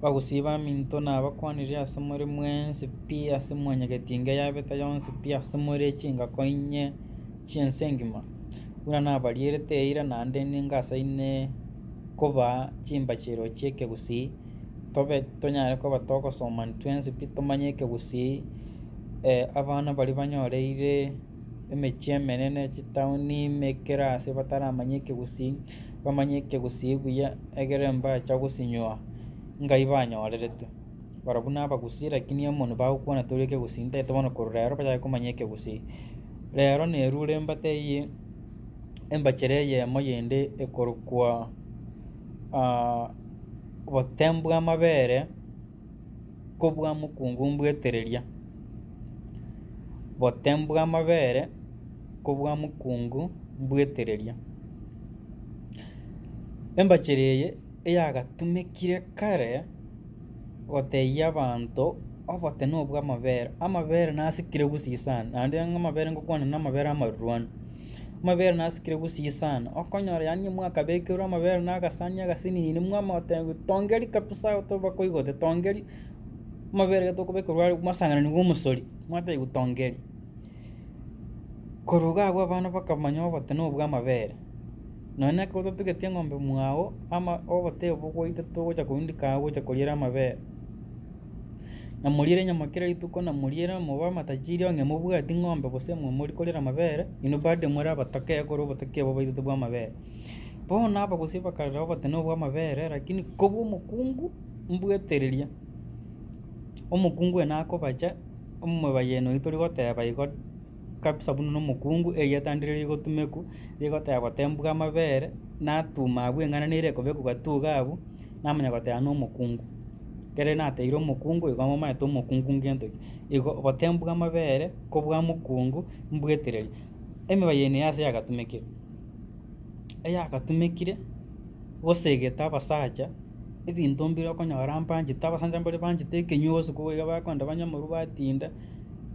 bagosiba eminto nabakwanire ase more mwensi pi ase mwanyegeti engiya yabeta yonsi pi ase more chingako inye chi'ense engima, buna nabarierete eira naende nigo ase ine kobaa chimbachero chi'ekegusii, tobe tonyare koba togosoma intwensi pi tomanye ekegusii, abana baria banyoreire. emechie emenene, chitaoni, emekera ase bataramanya ekegusii, bamanye ekegusii buya, egere mbacha gosinywa ngai banyoreretwe. Barobwo na abagusii rakini amo nibagokwana tori ekegusii ntagete bono korwa rero bachake komanya ekegusii. Rero na erure embate eyio, embachere eyemo yende ekorokwa botembwe amabere, kobua mokungu mbwetereria, bote mbw'amabere kobua mokungu mbwetereria. Embachera eye eyagatumekire kare gotebia abanto obote nobw'amabere, amabere nasikire gusii sana naende amabere ngokwana namabere amarurwani. Amabere nasikire gusii sana, okonyora yaani nyomwe akabekerwa amabere na agasani agasinini mwamanya goteba tongeri kabisa tobakwa igo tongeri, amabere tokobekerwa are mwasangananigwe omosori, mwatebiwa tongeri. Korwa iga abwo abana bakamanya oboteno bwa amabere, nonye na ekero totugete eng'ombe mwao ama oboteyo bogoita togocha korundika agho gocha koriera amabere. namoriere enyama kera rituko, namoriere mobe amatachiri onye mobwati ng'ombe gose momori korera amabere, inwe bado more abatoke ekero obotoki obo obaitete bwa amabere. Bono abagusii bakarora obotene obwo bwa amabere lakini kobua omokungu mbwetereria, omokungu oyo nakobacha, omobayeni oyio tori goteba igo kabisa buna omokungu erieta ndire rigotumeku rigoteba gotembwa amabere, natuma abwo eng'ana nere ekobekwa gatuga abwo. namanya goteba nomokungu, ekere nateire omokungu igo momanyete omokungu ngento ki. Igo obotengu bw'amabere kobua mokungu mbwetereri. Emebaye eye neyase yagatumekire? Eyagatumekire gosegete abasacha ebinto mbire okonyora mbanchete abasacha mbari banchete ekenywa botuko boigo bakonda banywe amarwa batinda,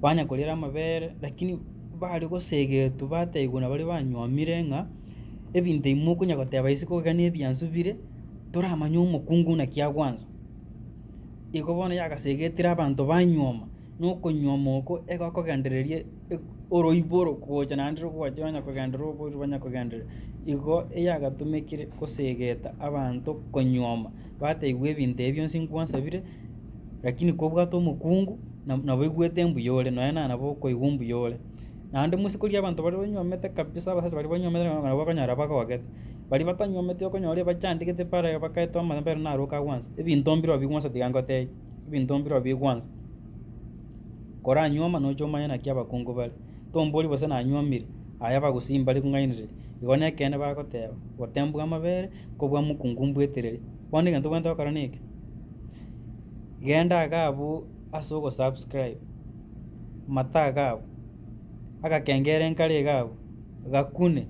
banya koriera amabere lakini bare gosegetwa batebiwa nabari banywomire ng'a ebinto ebi mokonyara goteba isiko iga nebiansu bire. toramanye omokungu naki agwansa. Igo bono yagasegetire abanto banyuoma, na okonyuoma oko egokogendereria oroiboro gocha naende rogwachire onye kogenderera oborio banya kogenderera. Igo eyagatomekire gosegeta abanto konyuoma, bataigwa ebinto ebi bionsi nkwasabire, rakini kobwate omokungu nabo oigwete mbuya ore, nonya nabo okoigwa mbuya ore. Naende mosikorie abanto baria banywomete kabisa, abasacha baria banywomete na nabo bakonyara bagogete. Baria batanywometi okonyora ebachandegete bare iga bakaete omanyabera naro okagwansa. Ebinto mbirobio bigwansa tiga ngotebie, ebinto mbirobio bigwansa. Koranywoma nocha omanye naki abakungu bare. Tombori gose nanywomire, aye abagusii mbare kong'ainereria. Igo nekeene bagoteba, gotembwa amabere, kobua mokungu mbwetereri. Bono egento obwenerete gokora neke, genda iga abwo ase ogo subscribe. amataga agwo, agakengera enkare iga agwo, gakune,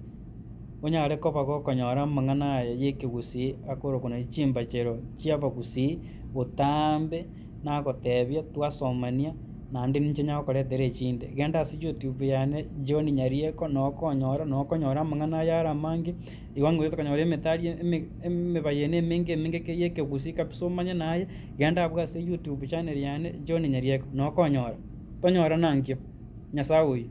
onyare koba gokonyora amang'ana aya y'ekegusii akorokwa naende chimbachero chi'abagusii botambe nagotebia twasomania naende ninche nyare gokoretera echinde. Genda ase youtube yane John Nyarieko noo okonyora noo okonyora amang'ana aya are amange, igo ngoeta konyora emetari eme emebayeno emenge emenge kei ekegusii kabisa omanye naye Genda abwo ase YouTube channel yane John Nyarieko nokonyora. Tonyora nankio. Nyasae oyio.